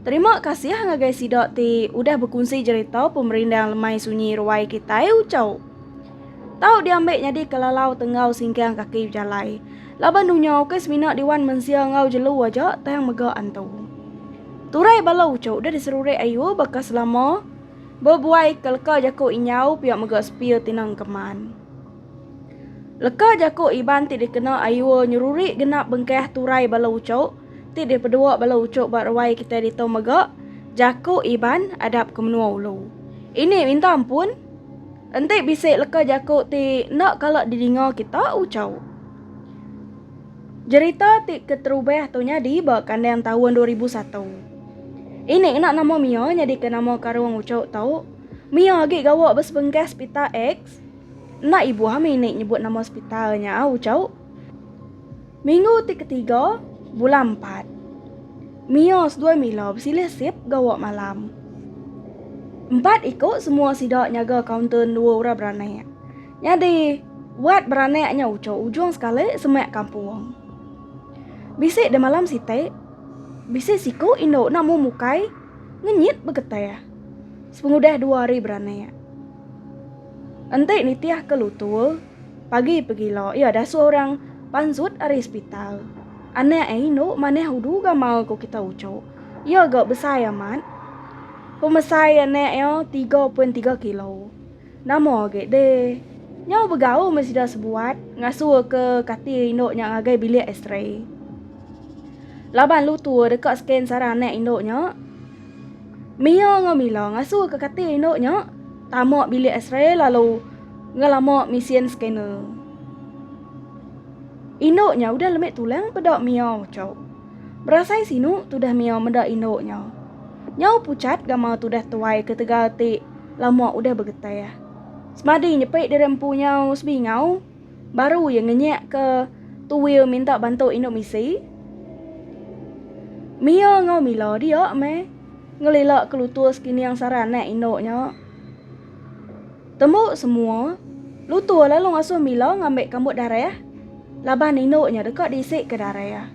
Terima kasih ngagai sida ti udah bekunsi jerita pemerindang lemai sunyi ruai kitai ucau. Tau diambil nyadi ke lalau tenggau singkang kaki bejalai. Laban dunya ukai semina diwan mensia enggau jelu aja tang mega antu. Turai bala ucu udah diserurik ayu baka selama bebuai ke leka jaku inyau pia mega sepia tinang keman. Leka jaku Iban ti dikena ayu nyerurik genap bengkah turai bala ucu Ti deh pedua bala uchup ba ruai kitai ditu mega jaku Iban adap ke menua ulu. Ini minta ampun, enti bisi leka jaku ti enda kala didinga kita uchup. Jerita ti keterubah tu nyadi ba kandang taun dua ribu satu. Ini ngena nama Mia nyadika nama karung uchup tu. Mia agi gawa ba sebengkah sepital X. Enda ibuh ami ini nyebut nama sepital nya uchup. Minggu ti ketiga bulan empat. Mia seduai Mila besilih sip gawa malam. Empat iku semua sida nyaga kaunter endua orang beranak. Nyadi, wat beranak nya uchu ujung sekali semak kampung. Bisi deh malam siti, bisi siku indu enda mu mukai ngenyit begetah sepengudah dua hari beranak. Enti nitihka lutur. Pagi pegila iya dasuh orang panzut ari sepital. Anak ai indu manah udu gamal ko kita uchu. Iya ga besai amat. Pemesai anak iya tiga pun tiga kilo. Nama agi deh. Nyau begaul meh sida sebuat ngasuh ke kati indu nya ngagai bilik X-ray. Laban lu tu deka scan sarang anak indu nya. Mia enggau Mila ngasuh ke kati indu nya tama bilik X-ray lalu. Ngelama misien scanner. Indu nya udah lemi tulang peda miau chau. Berasai sinu tudah miau meda indu nya. Nyau puchat gamal tudah tuai ketegal ti lama udah begetah. Semadi nyepi diri empu nyau sebingau baru iya ngenyak ke tuil minta bantu indu misi. Mia enggau Mila dia meh ngelila ke lutur sekining sara anak indu nya. Tembu semua, Lutur lalu ngasuh Mila ngambi kambut darah laban nindu nya deka diisika darah.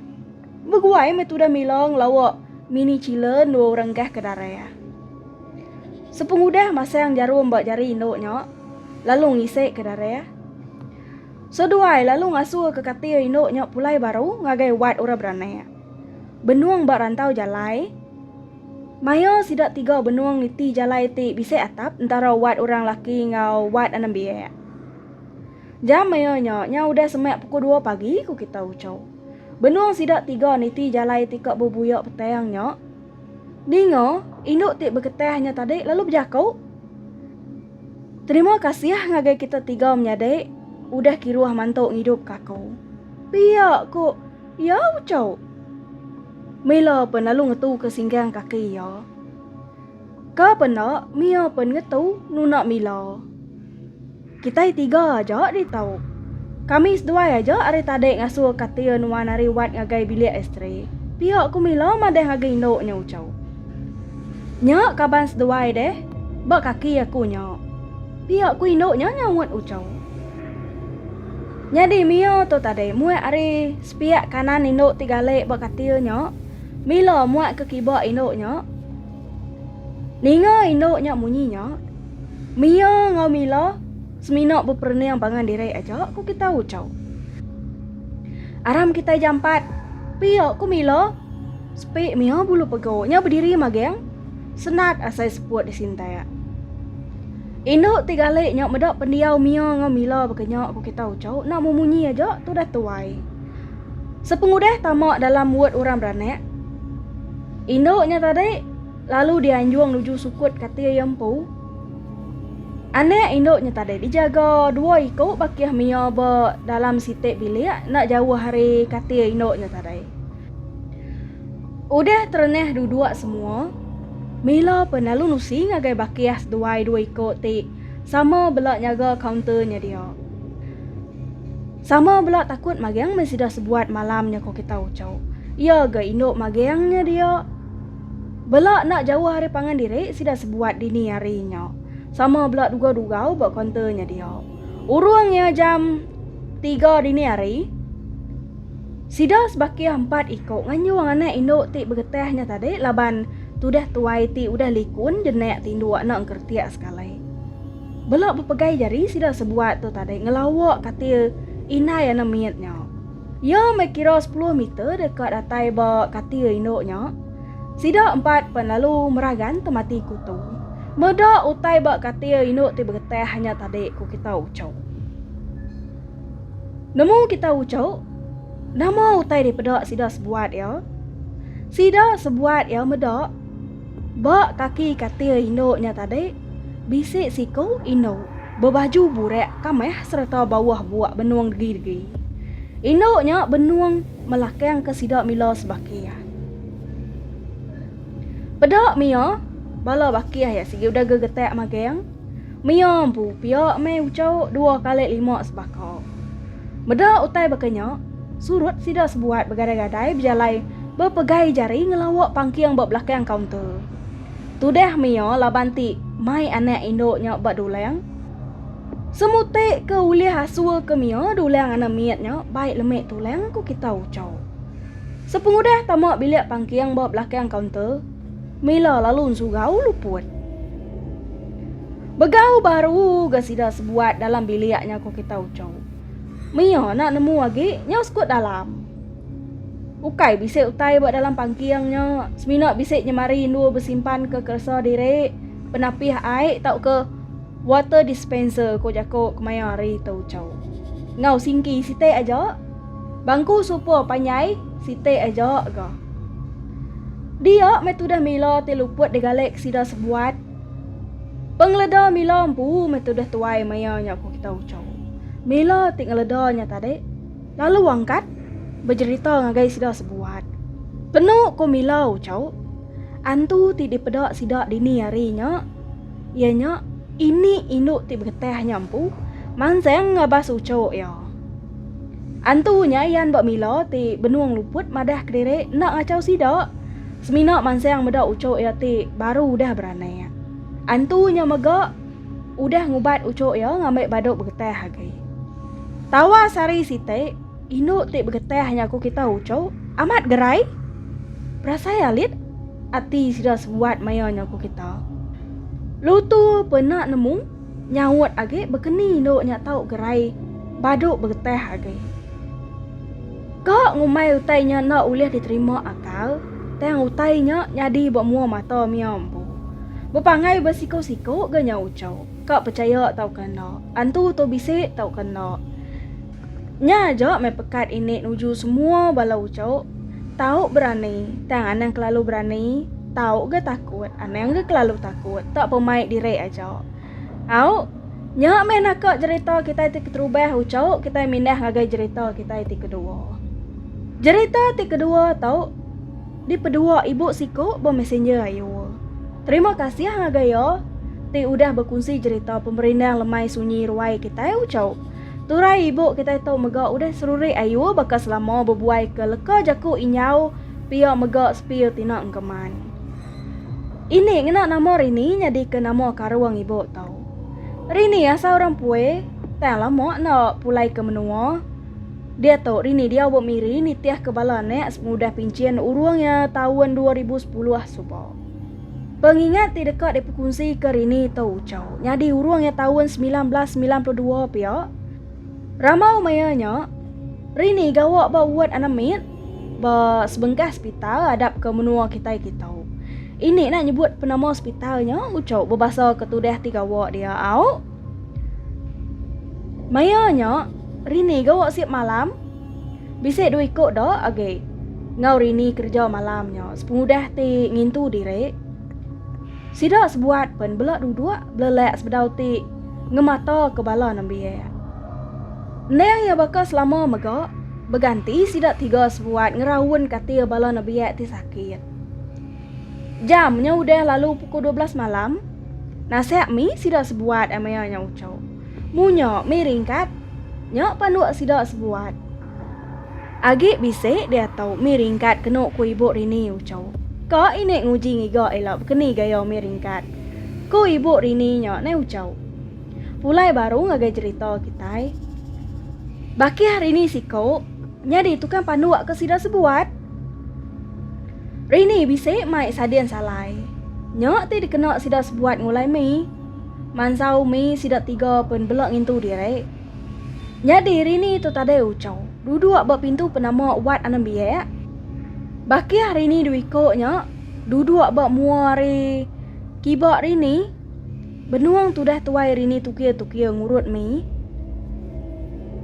Beguai meh tudah Mila ngelawa Mini Chila endur orang gah ke darah. Sepengudah masang jarum ba jari indu nya lalu ngisika darah, seduai lalu ngasuhka katil indu nya pulai baru ngagai wad orang beranak. Benung ba rantau jalai. Maya sida tiga benung niti jalai ti bisi atap entara wad orang laki enggau wad anak biak. Jam maya nya, nya udah semak pukul dua pagi, ku Kita Ucho. Benung sida tiga niti jalai ti ka bebuyak petang nya, dinga indu ti beketah nya tadi lalu bejaku, Terima kasih ngagai kita tiga menyadi udah kiruh mantu ngidupka aku. Pia, ku. Iya ucau. Mila pen lalu ngetu ke singgang kaki iya. Ka pen enda Mia pen ngetu nuna Mila. Kitai tiga aja di tau. Kami seduai aja ari tadi ngasuh katil nuan ari wat ngagai bilik isteri. Pia ku Mila madah agi indu nya ucau. Nya kaban seduai deh ba kaki aku nya. Pia ku indu nya nyaut ucau. Nyadi Mio tu tadi muak ari sepiak kanan indu ti galik ba katil nya, Milo muak ke kiba indu nya. Ninga indu nya munyi nya, Mio enggau Milo semina beperening pangan diri aja, ku kitai uchau. Aram kitai jampat, pia, ku Milo. Sepi Mio bulu pegu nya bediri magang. Senat asai seput disintak. Indu ti gali nya meda pendiau Mia enggau Mila baka nya ku kita uchu enda memunyi aja tu dah tuai. Sepengudah tama dalam wod orang beranak, indu nya tadi lalu dianjung nuju sukut kati iya empu. Anak indu nya tadi dijaga dua iku bakih Mia ba dalam siti bilik enda jauh ari kati indu nya tadi. Udah terenah duduk semua, Mila pun lalu nusi ngagai bakih seduai dua iko ti sama bela nyaga kaunter nya dia. Sama bela takut magang meh sida sebuat malam nya ko kita ucho. Iya ga indu magang nya dia. Bela enda jauh ari pangan diri sida sebuat dini hari nya. Sama bela dugau-dugau ba kaunter nya dia. Urung iya jam tiga dini hari, Sida sebakih empat iku nganyung anak indu ti begetah nya tadi laban tudah tuai ti udah likun jenak tindu enda engkertik sekali. Bela bepegai jari sida sebuat tu tadi ngelawa katil indai anak mit nya. Iya meh kira sepuluh meter deka datai ba katil indu nya. Sida empat pen lalu meragan temati kutu. Meda utai ba katil indu ti begetah nya tadi, ku kita uchu. Nemu kita uchu? Nama utai dipeda sida sebuat iya? Sida sebuat iya meda ba kaki katil indu nya tadi bisi siku indu bebaju burak kamah sereta bauh buak benung degi-degi. Indu nya benung melakangka sida mila sebakih. Peda mia bala bakih iya sigi udah gegetak magang. Mia empu pia meh uchauk dua kali lima sebaka. Meda utai baka nya, surut sida sebuat begadai-gadai bejalai bepegai jari ngelawa pangking ba belakang kaunter. Tudah Mia laban ti mai anak indu nya ba dulang. Semuti ke ulih asur ke Mia dulang anak mit nya bai lemi tulang ku kita uchauk. Sepengudah tama bilik pangking ba belakang kaunter, Mila lalu ensurau luput. Begau baru ga sida sebuat dalam bilik nya ko kita ucau. Mia nak nemu agi nyau sekut dalam. Ukai bisi utai ba dalam pangking nya, semina bisi nyemari indu besimpan ke keresa diri, penapih ai tauka water dispenser ko jako kemaya hari tu ucau. Ngau singki siti aja. Bangku supa panjai siti aja ga. Dia meh tudah mila ti luput digalik sida sebuat. Pengeleda mila empu meh tudah tuai maya nya ku kita ucau. Mila ti ngeleda nya tadi lalu angkat bejerita ngagai sida sebuat. Penu ku mila ucau antu ti dipeda sida dini hari nya iya nya ini indu ti begetah nya empu mansang ngabas ucau iya. Antu nya Yan ba Mila ti benung luput madah kediri enda ngachau sida. Semina mansang meda uchu iya ti baru udah beranak. Antu nya mega udah ngubat uchu iya ngambi badu begetah agi. Tawas hari siti, indu ti begetah nya ku kita uchu, amat gerai. Berasai alit ati sida sebuat maya nya ku kita. Lu tu pena nemu. Nyaut agi bekeni endu nya tau gerai badu begetah agi. Ka ngumbai utai nya enda ulih diterima akal tang utai nya nyadi ba mua mata mia empu. Bepanggai ba siku-siku ga nya uchu, ka pechaya tauka enda, antu tu bisi tauka enda. Nya aja meh pekat ini nuju semua bala uchu, tau berani tang anang kelalu berani, tau ga takut anang ga kelalu takut tak pa mai diri aja. Au, nya meh naka jerita kitai ti keterubah uchu kitai mindah ngagai jerita kitai ti kedua. Jerita ti kedua tu dipedua ibu siku ba messenger ayu. Terima kasih ngagai iya ti udah bekunsi jerita pemerindang lemai sunyi ruai kitai uchu. Turai ibu kitai tu mega udah serurik ayu baka selama bebuai ke leka jaku inyau pia mega sepir tina engkeman. Ini ngena nama Rini nyadi ke nama karung ibu tu. Rini asal orang Pue, tang lama enda pulai ke menua. Dia tu Rini diau ba Miri nitih ke bala anak sepengudah pinchin urung iya taun dua ribu sepuluh suba. Pengingat ti deka dipekunzika rini tu ucau nyadi urung iya taun 1992 pia. Ramau maya nya, rini gawa ba ward anemit ba sebengkah sepital adap ke menua kitai kitu. Ini nak nyebut penama sepital nya ucau bebasa ke tudah ti gawa dia au. Maya nya, rini gawa siap malam. Bisi dua iku da agi enggau Rini kereja malam nya sepengudah ti ngintu diri. Sida sebuat pen bela duduk belelak sebedau ti ngemata ke bala nembiak. Endang iya baka selama mega, beganti sida tiga sebuat ngeraun katil bala nembiak ti sakit. Jam nya udah lalu pukul dua belas malam, nasak mi sida sebuat amia nya uchu. Munyo mih ringkat, nyo panduk sida sebuat. Agi bisi diatu mih ringkat kenu ku ibu Rini uco. Ka ini nguji ngiga ila bekeni gaya mih ringkat, ku ibu Rini nyo neh uco. Pulai baru ngagai jerita kitai. Bakih Rini siko nyadi tukang panduk ke sida sebuat. Rini bisi mai sadin salai. Nyo ti dikena sida sebuat ngulai mih. Mansa Umi sida tiga pen bela ngintu diri. Nyadi Rini tu tadai Uchau, duduk ba pintu penama Wat Anang Biak. Bakih Rini dua iko nya duduk ba mua ari kiba Rini. Benung tudah tuai Rini tukir-tukir ngurut Mi.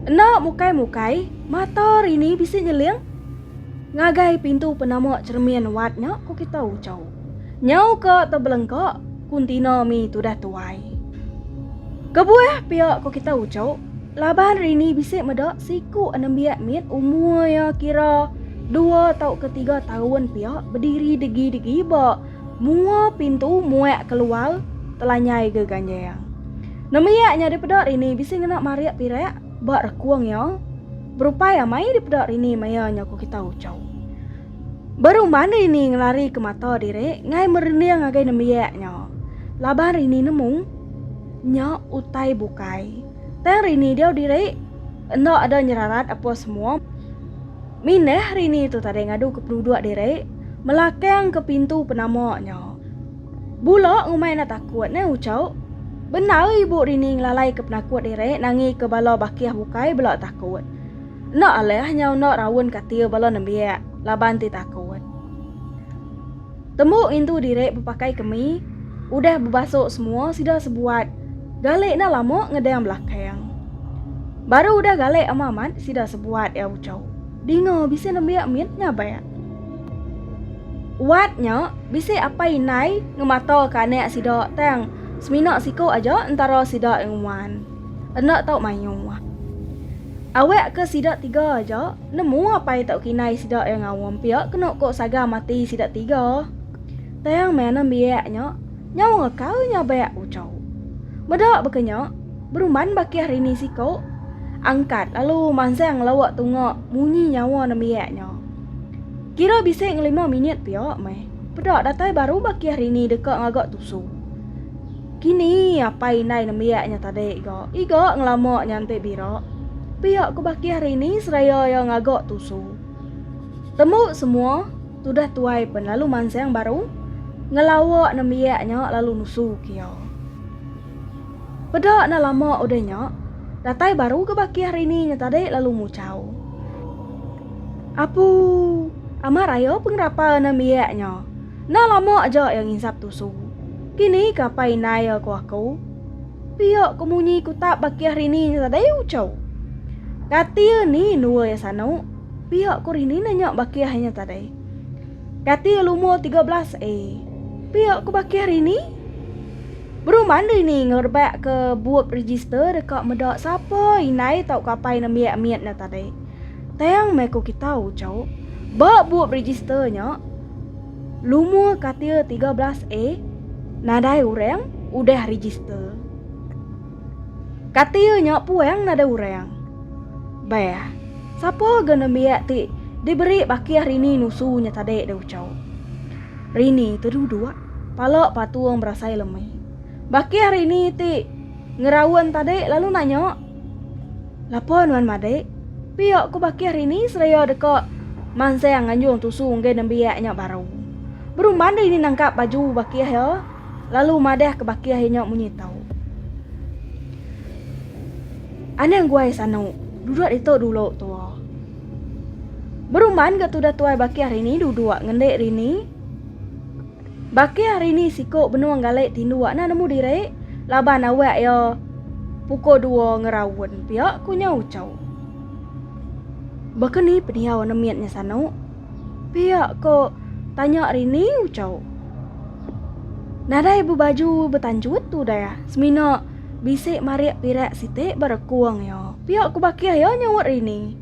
Enda mukai-mukai, mata Rini bisi nyeling ngagai pintu penama cheremin Wat nya, ku kita Uchau. Nyau ka tebelengka kuntina mi tudah tuai. Kebuah pia ko kita uco, laban rini bisi meda siku anembiak mit umur ia kira dua tauka tiga taun pia bediri degi-degi ba mua pintu muak keluar telanyai ga ganjang. Nembiak nya dipeda rini bisi ngena marik pirak ba rekung ia, berupai amai dipeda rini maia nya ko kita uco. Baru mani ini ngelari ke mata diri ngai merinding ngagai nembiak nya. Laban rini nemu nya utai bukai. Tang rini diau diri enda ada nyerarat apa semua. Minah rini tu tadi ngadu ke penuduk diri melakang ke pintu penama nya. Bula ngumai enda takut neh ucau. Bendar ibu rini ngelalai ke penakut diri nangi ke bala bakih bukai bela takut. Enda alah nyau enda raun katil bala nembiak laban ti takut. Tembu ngintu diri bepakai kemi, udah bebasuk semua sida sebuat galik enda lama ngedang belakang. Baru udah galik amat-amat sida sebuat iya ucau. Dinga bisi nembiak mit nyabak. Wat nya bisi apai indai ngemataka anak sida tang semina siku aja entara sida nguan. Enda tau mayuh. Awak ke sida tiga aja, nemu apai tau kinai sida iya ngaum pia kenu ko saga mati sida tiga. Tang meh nembiak nya, nyau ngekau nya bak uco. Meda baka nya, beruman bakih rini siko, angkat lalu mansang lawa tunga munyi nyawa nembiak nya. Kira bisi ngelima minit pia meh, peda datai baru bakih rini deka ngaga tusu. Kini apai indai nembiak nya tadi ga iga ngelama nyantik bira. Pia ku Bakih hari ini seraya iya ngaga tusu. Tembu semua, tudah tuai pen lalu mansang baru ngelawa nembiak nya lalu nusu ke iya. Peda enda lama udah nya, datai baru ga Bakih hari ini nya tadi lalu muchau. Apu, amat raya pengerapa nembiak nya. Enda lama aja iya nginsap tusu. Kini ka pai Nail ku aku. Pia ku munyi ku tak bakih rini nya tadai ucau. Kati ni nua iya sanu? Pia ku rini nanya bakih inya tadai. Kati iya lumur tiga belas A? Pia ku bakih rini. Beruman rini ngerebak ke bup register deka meda sapa inai tau ka pai nembiak mit nya tadai. Tang meh ku kita ucau. Ba bup register nya. lumur katil tiga belas A nadai orang udah register. Katil nya puang nadai orang. Bah, sapa ga nembiak ti diberi bakih Rini nusu nya tadi deh ucau. Rini teduduk, pala patung berasai lemi. Bakih Rini ti ngeraun tadi lalu nanya. Lapa nuan madik? Pia ku Bakih hari ni seraya deka mansang nganjung tusu enggai nembiak nya baru. Beru mandi ni nangkap baju Bakih iya lalu madah ke Bakih iya nya munyi tu. Anang guai sanu, duduk ditu dulu tua. Beruman ke tudah tuai Bakih hari ni duduk ngendik rini Baki hari ni siku benung galai tindu anda nemu diri laban awak iya pukul dua ngeraun pia, ku nya ucau. Baka ni pendiau anda mit nya sanu? Pia ko tanya Rini ucau. Nadai bebaju betanjut tu dah, semina bisi marik pirak siti ba rekung iya, pia ku Baki iya nyaut Rini.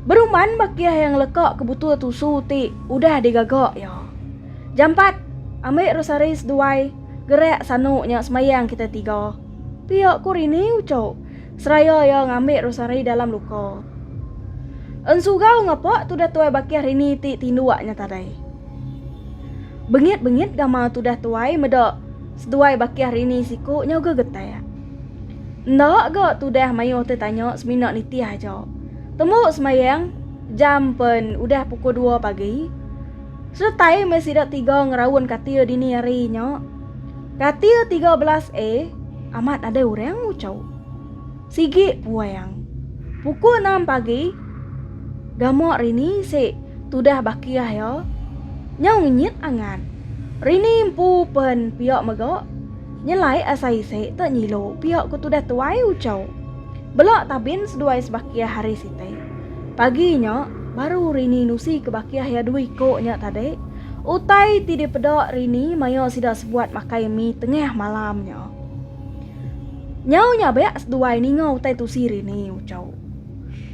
Beruman ba kiah yang leka ke butul tusu ti udah digaga iya. Jampat, ambi rosari seduai, gerak sanu nya semayang kita tiga. Pia ku Rini uchu seraya iya ngambi rosari dalam luka. Ensugau ngapa tudah tuai ba kiah Rini ti tinduk nya tadai. Bengit-bengit gamal tudah tuai meda seduai ba kiah Rini siku nya uga getak. Enda ga tudah mayuh ti tanya semina nitih aja. Tembu semayang jam pen udah pukul dua pagi. Seretai meh sida tiga ngeraun katil dini hari nya. Katil 13A amat nadai orang nguchau. Sigi puang. Pukul enam pagi gamak Rini si tudah bakih iya nyau ngenyit angat. Rini empu pen pia mega. Nyelai asa isi te nyilu pia ku tudah tuai ucau. Bela tabin seduai sebakih hari sitai. Pagi nya, baru Rini nusi ke bakih iya dua iko nya tadi, utai ti dipeda Rini maya sida sebuat makai mi tengah malam nya. Nyau nyabak seduai ninga utai tusi Rini ucau.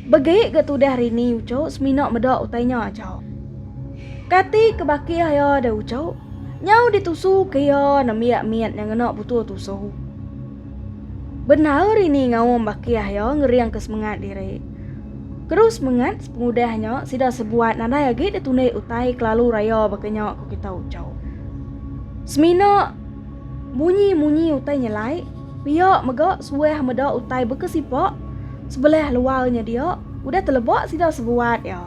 Begi ga tudah Rini ucau semina meda utai nya aja. Kati ke bakih iya deh ucau? Nyau ditusu ke iya nembiak mit nya ngena butuh tusu. Bendar rini ngaum bakih iya ngering ke semengat diri. Keru semengat sepengudah nya sida sebuat nadai agi ditunik utai kelalu raya baka nya ku kita ucau. Semina munyi-munyi utai nyelai pia mega suah meda utai beka sipak sebelah luar nya dia udah teleba sida sebuat iya.